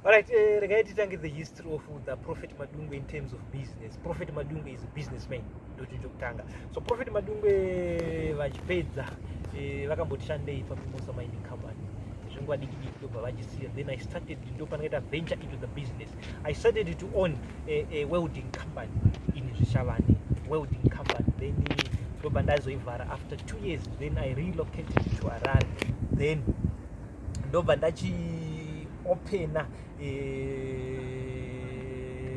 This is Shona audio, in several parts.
Alright, uh, regai titangidze history of the Prophet Madungwe in terms of business. Prophet Madungwe is a businessman ndochinjo kutanga. So Prophet Madungwe eh, vachipedza eh, vakamboti shandei paMimosa Mining Company zvenguva diki diki ndobva vachisiya then I started ndopanoita venture into the business. I started to own a, a welding company in Zvishavane, welding company then ndobva ndazoivhara after two years then I relocated to Harare then ndobva ndachiopena eh,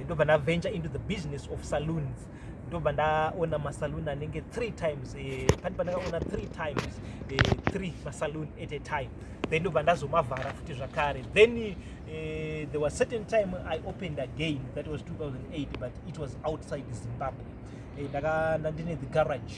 ndobva ndaventure into the business of saloons ndobva ndaona masaloon anenge three times eh, pati pandakaona three times eh, three masaloon at a time then ndobva ndazomavhara futi zvakare then uh, there was certain time i opened again that was 2008 but it was outside zimbabwe eh, ndakanda ndine the garage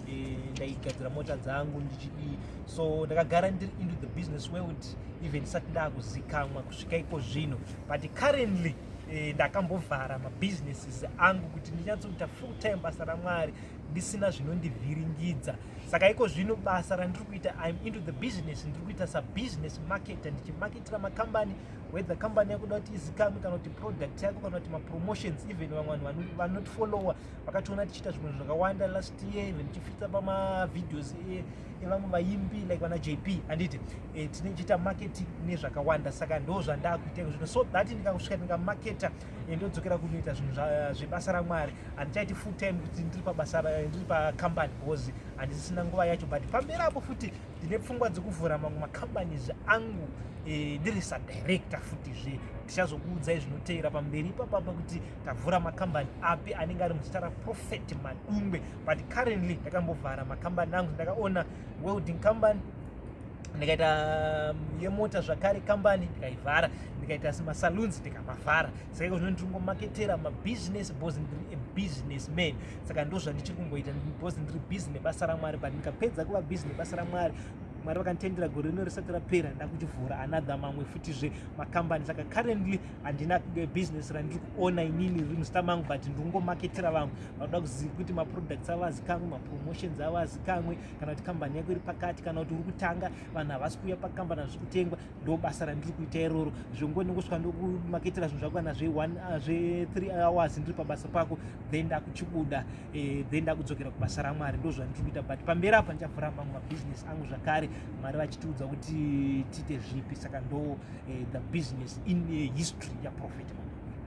eh, ndaigadzira mota dzangu ndichidii so ndakagara ndiri into the business world even ndisati ndakuzikamwa kusvika iko zvino but currently eh, ndakambovhara mabusinesses angu kuti ndinyatsoita full time basa ramwari ndisina zvinondivhiringidza saka iko zvino basa randiri kuita im into the business ndiri kuita sabusiness marketer ndichimaketira makambani whether company yakuda kuti izikamwe kana kuti product yako kana kuti mapromotions even vamwe vanhu vanotifollowa vakationa tichiita zvimwe zvakawanda last year even tichifitsa pamavideos e, evamwe vaimbi like vana jp handiti e, tine chiita marketing nezvakawanda saka ndo zvandakuita zvino so that ndikakusvika ndikamaketa e, ndodzokera kunoita zvinhu zvebasa ramwari handichaiti full time kuti ndiri pabasa ndiri pacompany because handisisina nguva yacho but pamberi apo futi ndine pfungwa dzekuvhura mamwe macompanies angu eh, ndiri e, sadirector futizve ndichazokuudzai zvinoteera pamberi ipapapa kuti tavhura makambani api anenge ari muzita raprophet madungwe but currently ndakambovhara makambani angu ndakaona welding company ndikaita mm, yemota zvakare kambani ndikaivhara ndikaita masaloons ndikamavhara saka iko zvino ndiri kungomaketera mabusiness bcause ndiri a business man saka ndo zvandichiri kumboita bcause ndiri busy nebasa ramwari but ndikapedza kuva busy nebasa ramwari mwari vakanditendera gore rino risati rapera ndakuchivhura another mamwe futi zve makambani saka currently handina business randiri kuona inini riri muzita mangu but ndiri kungomaketera vamwe vanoda kuziva kuti maproducts avo azikamwe mapromotions avo azikamwe kana kuti kambani yako iri pakati kana kuti uri kutanga vanhu havasi kuuya pakambani hazviri kutengwa ndo basa randiri kuita iroro zvongoni kusvika ndokumaketera zvinhu zvako kana zve3 ah, hours ndiri pabasa pako then ndakuchibuda eh, then ndakudzokera kubasa ramwari ndo zvandiri kuita but pamberi apa ndichavhura mamwe mabusiness angu zvakare mwari vachitiudza kuti tiite zvipi saka ndo eh, the business in eh, history yaprofet